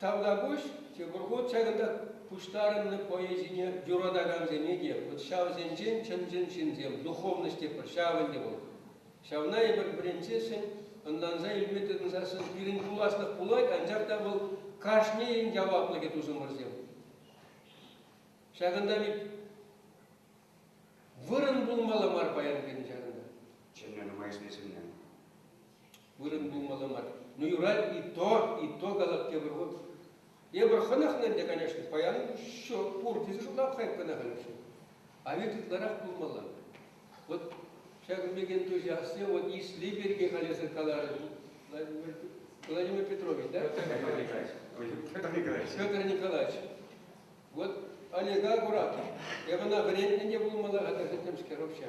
Speaker 5: Тавтапуҫ Ҫӑкӑрхут чакӑта пуҫтарӑннӑ поэзине юратакансене те, вӑт ҫавсенчен чӑн-чӑн ҫынсем, духовность тетпӗр, ҫав ӗнтӗ вӑл. Ҫавна эпир вӗрентсессӗн, ӑнланса илме тытӑнсассӑн пирӗн пуласлӑх пулать, анчах та вӑл кашнийӗн яваплӑхӗ тусӑмӑрсем. Ҫакӑнта бит вырӑн пулмалла мар паян пирӗн ҫакӑнта. Чӗннӗ нумай
Speaker 1: сисӗннӗ.
Speaker 5: Вырӑн тумалла мар. Ну, юрать, и то, и то калап тепӗр хут. Эпир хӑнӑхнӑ ӗнтӗ, конечно, паян ҫук, пур тесе шутлап хайп кӑна халӗнче. А ведь ытларах пулмалла. Вот ҫакӑн пекен тоже асем, вот исле пирки халесӗр каларӗ Владимир Петрович, да? Петр Николаевич. Петр Николаевич. Вот Олега Акуратов. Эпӗ ӑна вӗрентнӗ те пулмалла-ха тесе темскер вообще.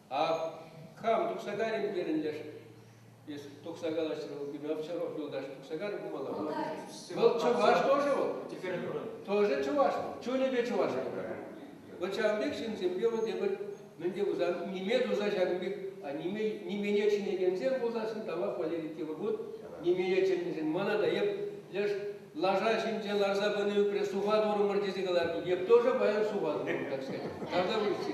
Speaker 5: Ах, хам тухса карӗм терӗн леш. Эс тухса калаҫрӑн Губернатов юлташ тухса карӗ пымалла. Вӑл чӑваш тоже вӑл. Теперь тоже чӑваш вӑл. Чунӗпе чӑваш Вӑл ҫавӑн пек ҫынсемпе вӑл тепӗр мӗнле пулсан ниме туса ҫакӑн пек а ниме нимене чӗнекенсем пулсассӑн тавах Валерий тепӗр хут нимене чӗннӗшӗн мана та эп леш лаша ҫинче ларса пыни ӳпре суха турӑмӑр тесе каларнине тоже паян суха турӑмӑр, так сказать. Тогда вы все.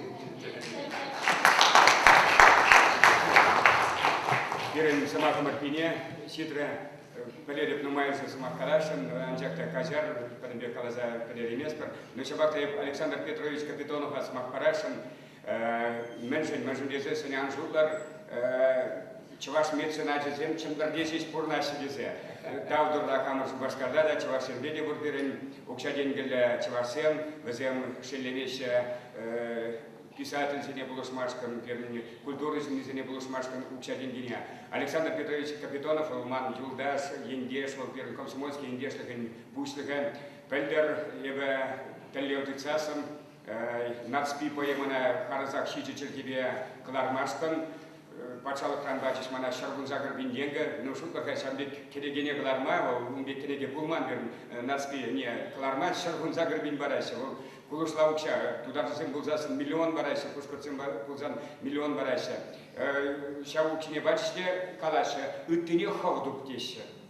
Speaker 1: Пирӗн сӑмахӑм иртнине ҫитрӗ. Валерьев нумайӑнсӑр сӑмах каласшӑн, анчах та каҫар, пӗтӗм пек каласа пӗтерейместпӗр. Но ҫапах та эп Александр Петрович Капитонова сӑмах парасшӑн. Мӗншӗн-мӗншӗн тесе сӗнӗ ан шутлӑр, чӑваш меценачӗсем чӗмпӗрте ҫеҫ пурӑнаҫҫӗ тесе. Тав турла хамӑр Шупашкарта та, чӑвашсемпе те пур пирӗн укҫа-тенкӗллӗ чӑвашсем, вӗсем шеллемеҫҫӗ писательсене пулӑшмашкӑн, пирӗн культура ҫыннисене пулӑшмашкӑн укҫа-тенкине. Александр Петрович Капитонов вӑл ман юлташ, ентеш, вӑл пирӗн комсомольски ентешлӗхӗн пуҫлӑхӗ. Пӗлтӗр эпӗ тӗллев тытсассӑн Нацпи поэмӑна харӑсах ҫичӗ чӗлхепе кӑлармастӑн. Патшалӑхран пачӗҫ мана Ҫаркунса кӑрпинтенкӗ. Ну, шутлӑр-ха, ҫан пек кӗнекене кӑларма, вӑл ун пек кӗнеке пулман пирӗн Нацпи ӗне кӑларма. Ҫаркунса кӑрпин параҫҫӗ, вӑл кулӑшла укҫа. Тутарсем пулсассӑн миллион параҫҫӗ, пушкӑртсем пулсан миллион параҫҫӗ. Ҫав укҫине пачӗҫ те калаҫҫӗ, ыттине хӑв туп теҫҫӗ.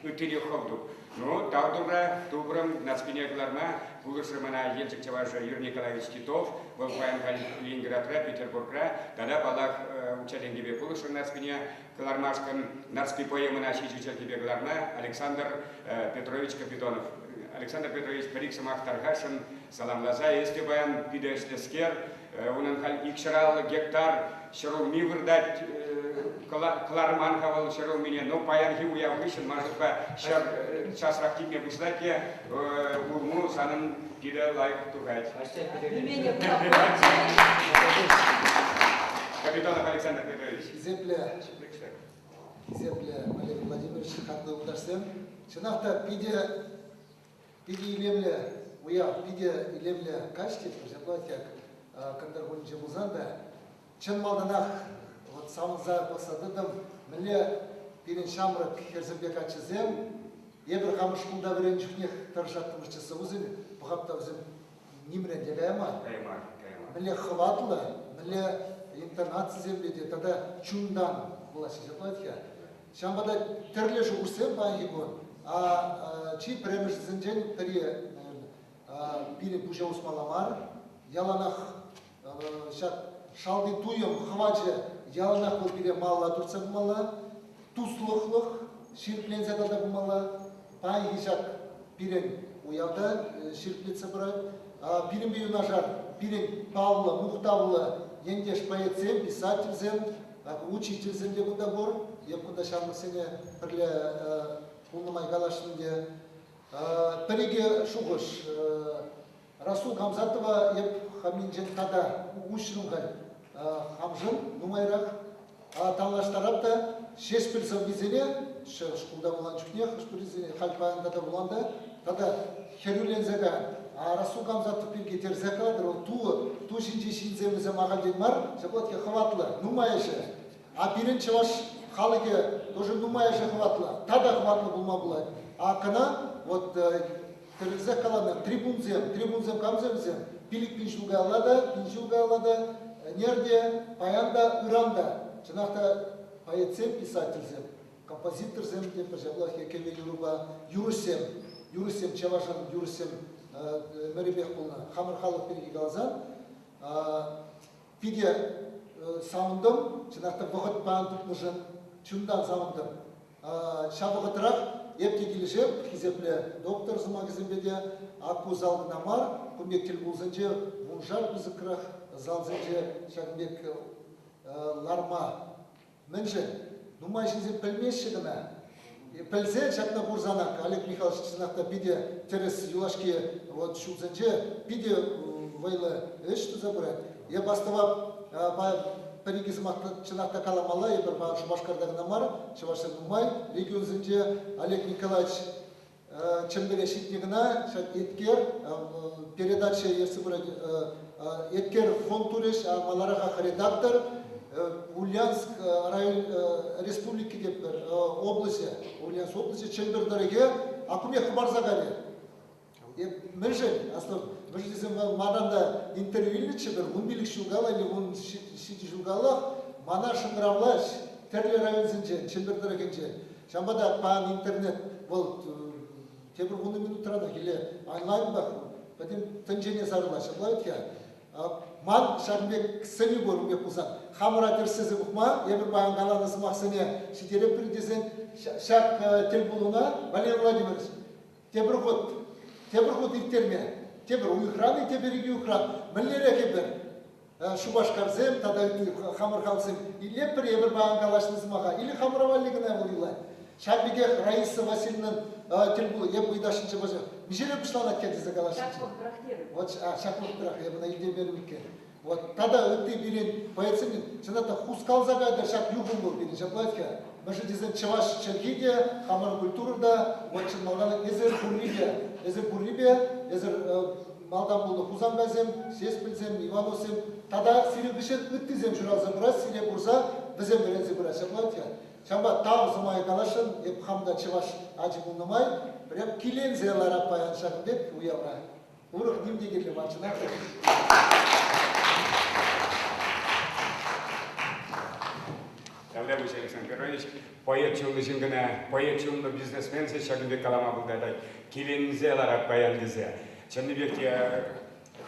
Speaker 1: Ыттине хӑвтук. Ну, тав турра, тупрӑм. Наскине кӑларма пулӑшрӗ мана Елчӗк чӑвашӗ Юрий Николаевич Титов. Вӑл паян Ленинградра, Петербургра тата, паллах, укҫа-тенкӗпе пулӑшрӗ Наскине кӑлармашкӑн. Нарспи поэмӑна ҫичӗ чӗлхепе кӑларма Александр Петрович Капитонов. Александр Петрович пӗр-ик сӑмах тархасшӑн, Саламласа, эс те паян питӗ ӗҫлӗскер. Унӑн халь икҫӑраллӑ гектар ҫӗрулми выртать. Кӑларман-ха вӑл ҫӗрулмине, но паянхи уяв хыҫҫӑн ман шутпа ҫӗр часрах типме пуҫлать те улму санӑн питӗ лайӑх тухать. Капитанов Александр Петрович. Хисеплӗ, хисеплӗ
Speaker 6: Валерий Владимирович, хатнӑ утарсем. Чӑнах та питӗ Питӗ илемлӗ уяв, питӗ илемлӗ каҫ-тӗк. Ҫапла тек Кӑнтӑр кунӗнче пулсан та чӑн малтанах вот савӑнса пӑхса тӑтӑм, мӗнле пирӗн ҫамрӑк хӗрсемпе каччӑсем эпир хамӑр шкулта вӗреннӗ чухнех тӑрӑшаттӑмӑр ССУсен, пӑхап та вӗсем нимрен те каяма. Кайма, кайма. Мӗнле хӑватлӑ, мӗнле интонацисемпе те тата чунтан вулаҫҫӗ ҫапла-тьха. Ҫавӑнпа та тӗрлӗ шухӑшсем паянхи кун. Чи пӗрремӗшӗсенчен пӗри, пирӗн пуҫа усмалла мар. Яланах ҫак шалти туйӑм хӑвачӗ яланах вӑл пире малалла туртса пымалла, туслӑхлӑх ҫирӗпленсе тата пымалла. Паянхи ҫак пирӗн уявта ҫирӗплетсе пырать. Пирӗнпе юнашар пирӗн паллӑ, мухтавлӑ ентеш-поэтсем, писательсем, учительсем те кунта пур. Эп кунта ҫамрӑксене пӗрле пулнӑ май каласшӑн те. Пӗр-икӗ шухӑш Расул Хамзатова эп хам инҫет тата уҫрӑм халь хамшӑн нумайрах. Танлаштарап та Ҫеҫпӗл сӑввисене шкулта вуланӑ чухне хӑш-пӗрисене халь паян тата вуланта тата хӗрӳленсе каyan. Расул Камзатов пирки терсе калатӑр, вӑл ту, ту ҫинчи ҫынсем вӗсем ахальтен мар, ҫапла хӑватлӑ, нумайӑшӗ. А пирӗн чӑваш халӑхӗ тоже нумайӑшӗ хӑватлӑ, тата хӑватлӑ пулма пулать. А кӑна вот тӗлӗнсех каланӑ трибунсем, трибунсем камсем вӗсем? Пилӗк пин ҫул каялла та, пин ҫул каялла та, ӗнер те, паян та, ыран та. Чӑнах та поэтсем, писательсем, композиторсем те ҫаплах кӗвӗ юрӑпа юрӑҫсем. Юрӑҫсем чӑвашӑн юрӑҫсем мӗрӗпех пулнӑ. Хамӑр халӑх пирки каласан питӗ савӑнтӑм. Чӑнах та вӑхӑтпа тупнӑшӑн чунтан савӑнтӑм. Ҫав вӑхӑтрах эп те килӗшеп, хисеплӗ доктор сӑмахӗсемпе те. Ку зал кӑна мар, кун пек тӗл пулусенче вуншар пысӑкрах залсенче ҫакӑн пек ларма мӗншӗн? Нумай ҫынсем пӗлмеҫҫӗ кӑна. Пӗлсе ҫакна курсанах Олег Михайлович чӑнах та питӗ тӗрӗс юлашки вот ҫулсенче питӗ вӑйлӑ ӗҫ туса пырать. Эп астӑва пӗр-икӗ сӑмах чӑнах та каламалла, эпир Шупашкарта кӑна мар, чӑвашсем нумай регионсенче Олег Николаевич Чӗмпӗре ҫитнӗ кӑна ҫак еткер передача ертсе пырать еткер фонд турӗҫ, а маларахах редактор Ульянск район республики те пӗр облаҫӗ, Ульянск облаҫӗ Чӗмпӗр тӑрӑхӗ акуне хӑпарса кайнӑ. Мӗншӗн? Аслӑ, мӗш тесен манан та интервью илнӗччӗ-тӗр, ун пилӗк ҫул калани, ун ҫичӗ ҫул каллах мана шӑнкӑравлаҫ тӗрлӗ районсенче, Чӗмпӗр тӑрӑхӗнче. Ҫавӑнпа та пан интернет вӑл тепӗр вунӑ минутранах или онлайнпах пӗтӗм тӗнчене сарӑла ҫапла вӗт-ха. Ман ҫакӑн пек сӗнӳ пур ун пек пулсан, хамӑра тӗрӗслесе пӑхма, эпир паян каланӑ сӑмахсене ҫитереппӗр тесен ҫак тӗлпулуна, Валерий Владимирович, Тепӗр хут, тепӗр хут ирттерме, тепӗр уйӑхран-и, тепӗр икӗ уйӑхран, мӗнлерех эпир Шупашкарсем тата ытти хамӑр халӑхсем илеппӗр эпир паян калаҫнӑ сӑмаха или хамӑра валли кӑна вӑл юлать. Ҫак пекех Раиса Васильевнӑн тӗл пулу эп ыйтасшӑнччӗ пачах. Мӗншене пуҫланать те тесе калаҫнӑччӗ. Ҫак вӑхӑтрах, а, ҫак вӑхӑтрах эп ӑна илтеймерӗм иккен. Вот тата ытти пирӗн боецсен, чӑнах та, хускалса кайтӑр ҫак юхӑмлӑ пирӗн ҫаплатка. Мӗшӗ тесен чӑваш чӗлхи те, хамӑр культура та, вот чӑн малтан эсир пуррипе, эсир пуррипе, эсир малтан пулнӑ Хусанкайсем, Сеспӗлсем, Ивановсем тата сирӗн хыҫҫӑн ыттисем ҫуралса пырать, сире курса вӗсем вӗренсе пырать ҫаплатка. Ҫапа тав сӑмая каласшӑн, эп хам та чӑваш ачи пулнӑ май, пӗрем киленсе ларап паян ҫакӑн пек уявра. Урӑх ним те кирлӗ мар чӑнах
Speaker 1: та. Калле пуҫ Александр Георгиевич поэт чунлӑ ҫын кӑна, поэт чунлӑ бизнесменсӗ ҫакӑн пек калама пултарать. Киленсе ларать паян тесе. Чӑннипех те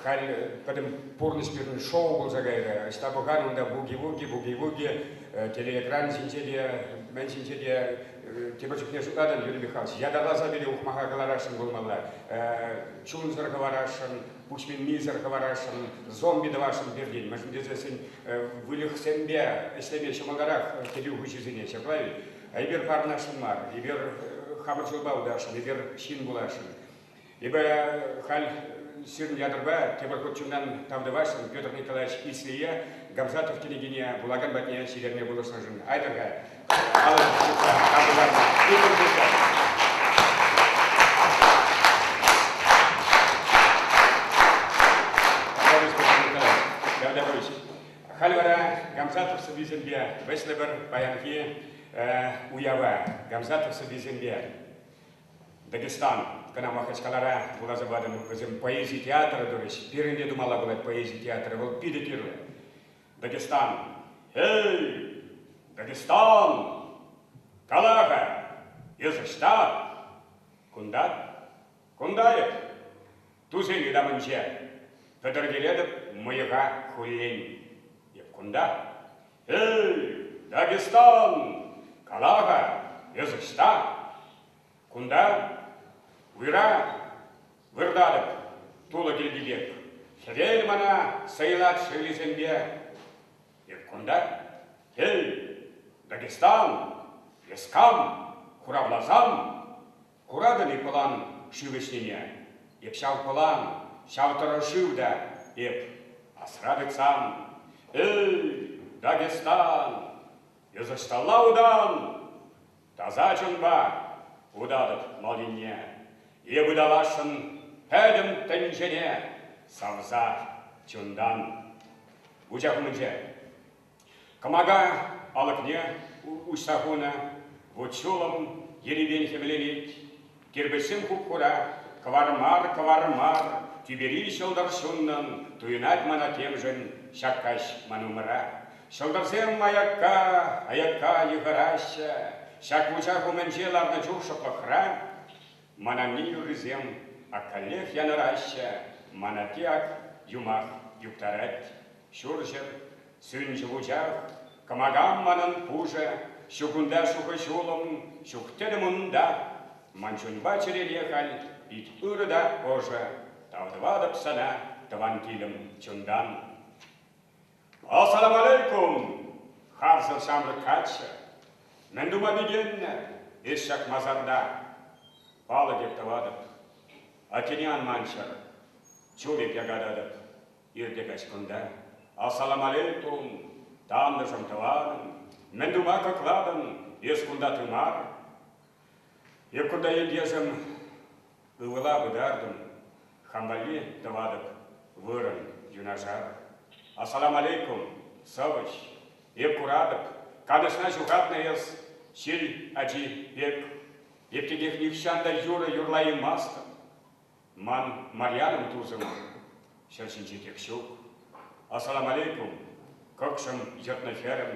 Speaker 1: халь пӗтӗм пурнӑҫ пирӗн шоу пулса кайрӗ. Ӑҫта пӑхан унта буги-вуги, буги-вуги, телеэкран ҫинче те, мӗн ҫинче те Тепӗр чухне шутлатӑн, Юрий Михайлович, ятарласа пире ухмаха кӑларасшӑн пулмалла, чунсӑр хӑварасшӑн, пуҫминнисӗр хӑварасшӑн, зомби тӑвасшӑн пиртен, мӗншӗн тесессӗн выльӑхсемпе ӗҫлеме ҫӑмӑлтарах кӗтӳ хуҫисене ҫапла-и? Эпир парӑнасшӑн мар, эпир хамӑр ҫулпа утасшӑн, эпир ҫын пуласшӑн. Эпӗ халь сирӗн ятӑрпа тепӗр хут чунтан тав тӑвасшӑн Петр Николаевич Ислие Гамзатов кӗнекене вулакан патне ҫитерме пулӑшнӑшӑн. Айтӑр-ха, палӑртӑр ҫырса, тав тӑварӑр. Питӗр пулчӑр. Петр Николаевич, халь вара Гамзатов сӑввисемпе вӗҫлӗпӗр паянхи уява. Гамзатов сӑввисемпе Дагестан. Кӑна вахӑт калара вуласа патӑм. Вӗсем поэзи театрӗ турӗҫ. Пирӗн те тумалла пулать поэзи театрӗ. Вӑл питӗ кирлӗ. Дагестан. Эй! Дагестан! Кала-ха, эсӗ ӑҫта? Кунта? Кунта эп. Тусӗ ытамӗнче пӗтӗртетӗп мӑйӑха хуллен. Эп кунта, эй, Дагестан, кала-ха, эс ӑҫта? Кунта уйра выртатӑп, тулӑ килти пек. Хӗвел мана сӑйлать шӑллисемпе. Эп кунта, эй, Дагестан, эс кам, хуравласам? Куратӑн-и пӑлан шыв ӗҫнине? Эп ҫав пӑлан, ҫав тӑрӑ шыв та, эп, асра тытсам. Эй, Дагестан, эс ӑҫталла утан? Таса чунпа утатӑп мал енне, эп ыталасшӑн пӗтӗм тӗнчене савса чунтан. Вучах умӗнче Кӑмака алӑкне уҫса хунӑ, вут-ҫулӑм ерипен хӗвленет. Кирпӗчсем хуп-хура, кӑвар мар, кӑвар мар, тӳпери ҫӑлтӑр ҫуннӑн туйӑнать мана темшӗн ҫак каҫ ман умӑра. Ҫӑлтӑрсем аякка, аякка йыхӑраҫҫӗ. Ҫак вучах умӗнче ларнӑ чух шӑплӑхра ман анне юррисем ак каллех янӑраҫҫӗ, ман атте ак юмах юптарать. Ҫурҫӗр, сӳнчӗ вучах, кӑмакам манӑн пушӑ, ҫукунта шухӑ-ҫулӑм, ҫук тӗтӗм унта. Ман чунпа чӗрене халь пит ырӑ та ӑшӑ, тав тӑватӑп сана, тӑван килӗм, чунтан. Ассаламалейкум! Харсӑр ҫамрӑк каччӑ. Мӗн тума пикеннӗ эс ҫак масарта? Палӑк эп тӑватӑп. Атене ан манчӑр. Чул эп якататӑп. Иртӗ каҫ кунта. Ассаламалейкум, турӑм, тантӑшӑм, тӑванӑм. Мӗн тума кӑклатӑн? Эс кунта ты мар. Эп кунта ентешӗм ывӑла пытартӑм. Хам валли тӑватӑп вырӑн юнашар. Ассаламалейкум, сӑвӑҫ. Эп куратӑп, канӑҫна ҫухатнӑ эс ҫил ачи пек. Эп текех нихҫан та юрӑ юрлаймастӑп. Ман Марьянӑм тусӑмӑр, ҫӗр ҫинчетех ҫук. Ассаламалейкум, кӑкшӑм, йӑтнӑ хӗрӗм,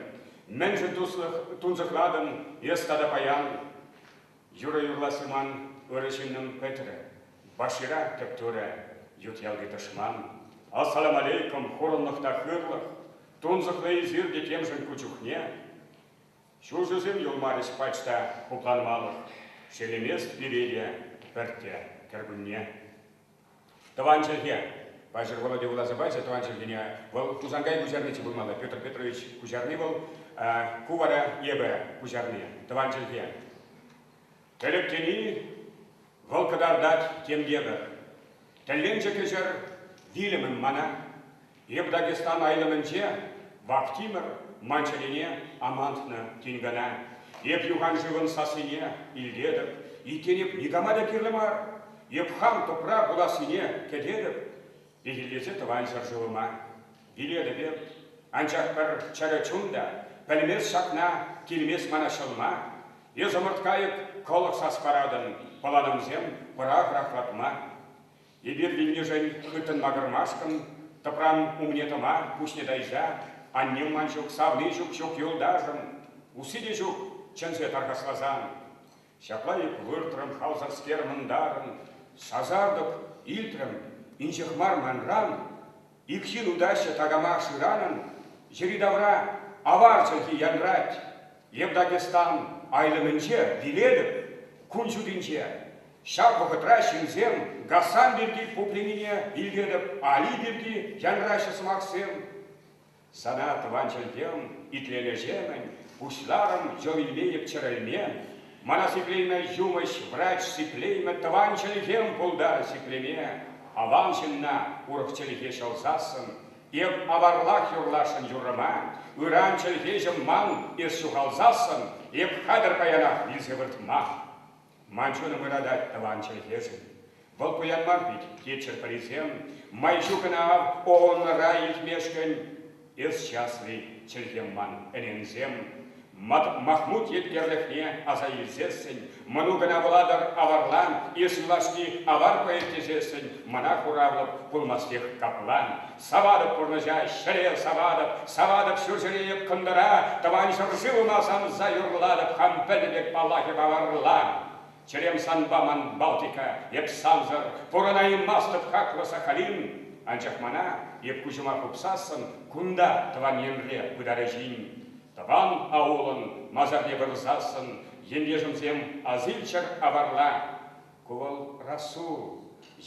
Speaker 1: мӗншӗн туслӑх тунсӑхлатӑн эс тата паян? юрӑ юрласси ман ырӑ ҫыннӑм пӗтрӗ, Башира тӗп турӗ ют ялти тӑшман. Ассаламалейкум, хурӑнлӑх та хырлӑх, тунсӑхлӑ эсир те темшӗн ку чухне. Ҫулҫӑсем юлмарӗҫ пач та пуканмалӑх, ҫелӗмест пире те пӗртте кӗркунне. Тӑван чӗлхе! Паҫӑр Володя вуласа пачӗ тӑван чӗлхене. Вӑл Хусанкай куҫарниччӗ пулмалла, Петр Петрович куҫарни вӑл. Ку вара эпӗ куҫарни, тӑван чӗлхе. Тӗрӗк тени вӑл кӑтартать тем евӗр. Тӗлленчӗ кӗҫӗр вилӗмӗм мана. Эп Дагестан айлӑмӗнче Вахтимӗр ман чӗрене амантнӑ тин кӑна. Эп юханшывӑн сассине илтетӗп, иккен эп никама та кирлӗ мар. Эп хам тӑпра пулассине кӗтетӗп, пехиллесе тӑван ҫӗршывӑма. Вилерӗпӗр. Анчах пӗр чӗрӗ чун та пӗлмест ҫакна, килмест мана ҫӑлма. Эс ӑмӑрт кайӑк, кӑлӑх сас паратӑн, пӑланӑмсем, пӑрах-рахлатма. Эпир вилнишӗн хыттӑн макӑрмашкӑн, тӑпран умне тӑма пуҫне тайса, аннем ман ҫук, савни ҫук, ҫук юлташӑм, усси те ҫук, чӗнсе тархасласан. Ҫапла эп выртрӑм хавсӑрскер мӑнтарӑн, сасартӑк илтрӗм инҫех мар манран. Ик ҫын утаҫҫӗ такама шыранӑн, йӗри-тавра авар чӗлхи янрать. Эп Дагестан айлӑмӗнче вилетӗп, кун ҫутинче. Ҫав вӑхӑтра ҫынсем Гасан пирки пупленине илтетӗп, Али пирки янраҫҫӗ сӑмахсем. Сана, тӑван чӗлхем, итлемешемӗн, пуҫларӑм йӑл илмейӗп-чӗрӗлме, мана сиплеймӗ юмӑҫ, врач, сиплеймӗ тӑван чӗлхем, пултар сиплеме, аван ҫынна, урӑх чӗлхе ҫӑлсассӑн, эп аварлах юрласшӑн юррӑма, ыран чӗлхеҫӗм ман, эс ҫухалсассӑн, эп хатӗр паянах вилсе выртмах. Ман чунӑм ыратать тӑван чӗлхешӗн. Вӑл пуян мар вӗт, кичӗр пӗрисем, Май ҫук ӑна ав ООНра илтмешкӗн. Эс часли, чӗлхем ман, ӗненсем, Махмут еткерлӗхне аса илсессӗн, Мӑнукӑна вулатӑр аварлан, Эс юлашки авар поэт тесессӗн, Мана хуравлӑп пулмастех каплан. Саватӑп пурнӑҫа, ҫӗре саватӑп, Саватӑп ҫурҫӗре эп кӑнтӑра, Тӑван ҫӗршывӑма савса юрлатӑп Хам пӗлнӗ пек паллахӗ паварла. Чӗрем санпа ман Балтика, эп сансӑр, Пурӑнаймастӑп хаклӑ Сахалин. Анчах мана, эп куҫӑма хупсассӑн, Кунта, тӑван енре, пытарӗ ҫын. Тӑван аулӑн масарне вырӑсассӑн, Ентешӗмсем асилччӗр аварла. Ку вӑл Расул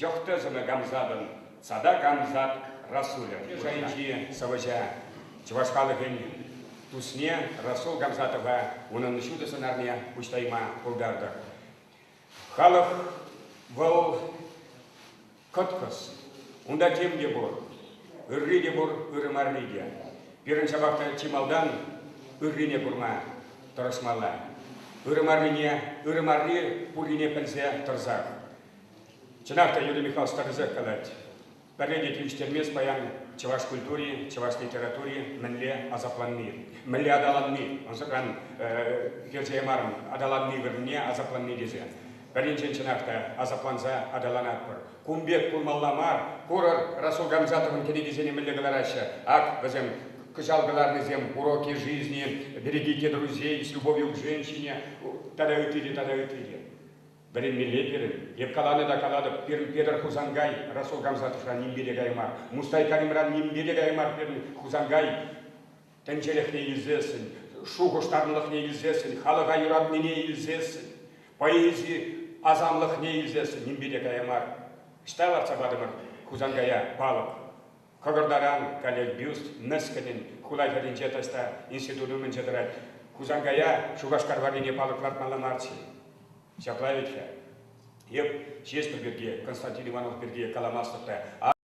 Speaker 1: Йӑхтӑсӑмӗ Гамзатӑн Цада Гамзат Расулӗ шайӗнчи сӑвӑҫа, чӑваш халӑхӗн тусне Расул Гамзатова унӑн ҫутӑ сӑнарне уҫтарма пултартӑр. Халӑх вӑл кӑткӑс. Унта тем те пур. Ырри те пур, ырӑ марри те. Пирӗн ҫапах та чи малтан ыррине курма тӑрӑшмалла. Ырӑ маррине, ырӑ марри пуррине пӗлсе тӑрсах. Чӑнах та Юрий Михайлович старӑсах калать. Пӗрре те тивӗҫтермест паян чӑваш культури, чӑваш литератури мӗнле асапланни, мӗнле аталанни, ӑнсӑртран э, персе ямарӑм, аталанни вырӑнне асапланни тесе. Пӗринчен чӑнах та асапланса аталанатпӑр. Кун пек пулмалла мар. Курӑр, Расул Гамзатовӑн кӗнекисене мӗнле кӑлараҫҫӗ. Ак вӗсем кӑҫал кӑларнисем Уроки жизни, Берегите друзей, С любовью к женщине тата ытти те тата ытти те. Вӗренмелле пирӗн. Эп каланӑ та калатӑп, пирӗн Петӗр Хусанкай Расул Гамзатовра нимпе те кая мар. Мустай Каримран нимпе те кая мар пирӗн Хусанкай. Тӗнчелӗхне илсессӗн, шухӑштарлӑхне илсессӗн, халӑха юратнине илсессӗн, поэзи асамлӑхне илсессӗн нимпе те кая мар. Ӑҫта лартса патӑмӑр Хусанкая палӑк? Кӑкӑртаран каллех бюст мӗскӗнӗн хула хӗрринче таҫта институт умӗнче тӑрать. Хусанкая Шупашкар варрипе палӑк лартмалла мар-ччӗ. Ҫапла вӗт-ха. Эп Ҫеҫпӗл пирки, Константин Иванов пирки каламастӑп та.